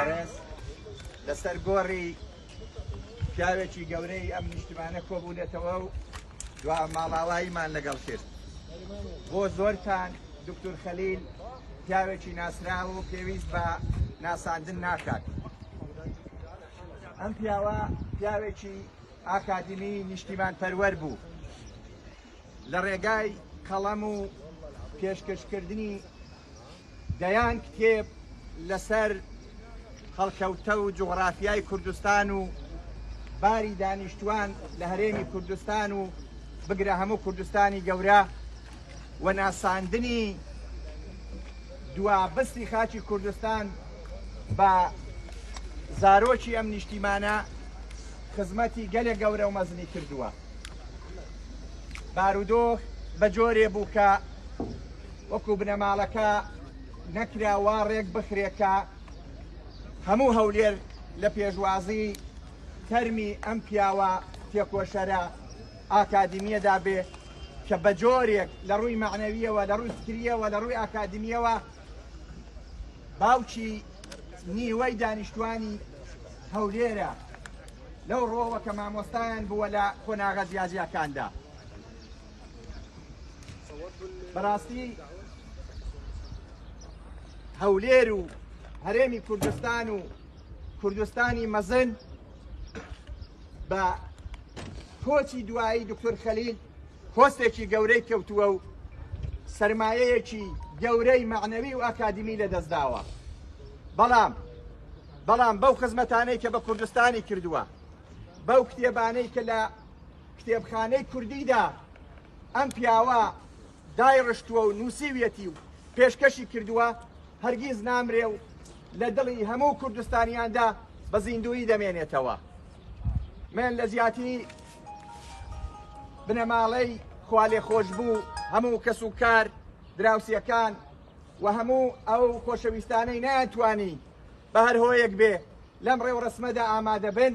بەڕێز لەسەر گۆڕی پیاوێکی گەورەی ئەم نیشتمانە کۆبوونەتەوە و دوا ماڵاواییمان لەگەڵ کرد بۆ زۆرتان دکتور خەلیل پیاوێکی ناسراو و پێویست بە ناساندن ناکات ئەم پیاوە پیاوێکی ئاکادمی نیشتیمان پەروەەر بوو لە ڕێگای قەڵەم و پێشکەشکردنی دەیان کتێب لەسەر هەڵکەوتە و جوغرافیای کوردستان و باری دانیشتوان لە هەرێمی کوردستان و بگرە هەموو کوردستانی گەورە و ناساندنی دوابستی خاچی کوردستان بە زارۆکی ئەم نیشتیمانە خزمەتی گەلێک گەورە و مەزنی کردووە بارودۆخ بە جۆرێ بوو کە وەکو بنەماڵەکە نەکرا وا ڕێک بخرێت کە هەموو هەولێر لە پێشوازی تەرمی ئەم پیاوە تێکۆشەرە ئاکادمیەدا بێ کە بە جۆرێک لە ڕووی معنەویەوە لە ڕووی فکریەوە لە ڕووی ئاکادمیەوە باوکی نیوەی دانیشتوانی هەولێرە لەو ڕۆوە کە مامۆستایان بووە لە قۆناغە جیاجیاکاندا. بەڕاستی هەولێر و هەرێمی کوردستان و کوردستانی مەزن بە کۆچی دوایی دکتۆر خەلیل کۆستێکی گەورەی کەوتووە و سرمایەیەکی گەورەی معنەوی و ئاکادمی لە دەستداوە بەڵام بەڵام بەو خزمەتانەی کە بە کوردستانی کردووە بەو کتێبانەی کە لە کتێبخانەی کوردیدا ئەم پیاوە دایڕشتووە و نووسیویەتی و پێشکەشی کردووە هەرگیز نامرێ و لە دڵی هەموو کوردستانیاندا بە زیندووی دەمێنێتەوە من لە زیاتی بنەماڵەی خوالێ خۆش بوو هەموو کەس و کار دراوسەکان و هەموو ئەو خۆشەویستانەی ناتوانی بە هەر هۆیەک بێ لەم ڕێوڕسمەدا ئامادە بن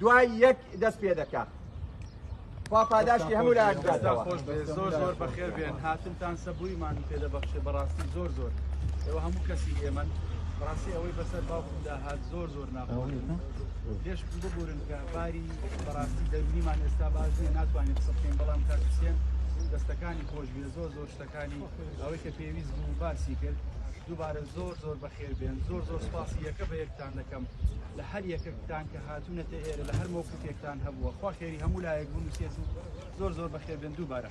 دوای یەک دەست پێ دەکا. خوا پاداشتی هەموو لایەک بداتەوە. خۆش بێ زۆر زۆر بەخێر بێن هاتنتان سەبوویمان پێ دەبەخشێ بەڕاستی زۆر زۆر ئێوە هەموو کەسی ئێمەن بەڕاستی ئەوەی بەسەر باوکمدا هات زۆر زۆر ناخۆش لێش ببورن کە باری بەڕاستی دەرونیمان ئێستا باش نیە ناتوانین قسە بکەین بەڵام کاکسیێن دەستەکانی خۆش بێ زۆر زۆر شتە کانی ئەوەی کە پێویست بوو باسی کرد دووبارە زۆر زۆر بەخێر بێن زۆر زۆر سپاسی یەکە بە یەکتان دەکەم لە هەر یەکەکتان کە هاتوونەتە ئێرە لە هەر مۆکوتێکتان هەبووە خوا خێری هەموو لایەک بوون سێت و زۆر زۆر بەخێر بێن دووبارە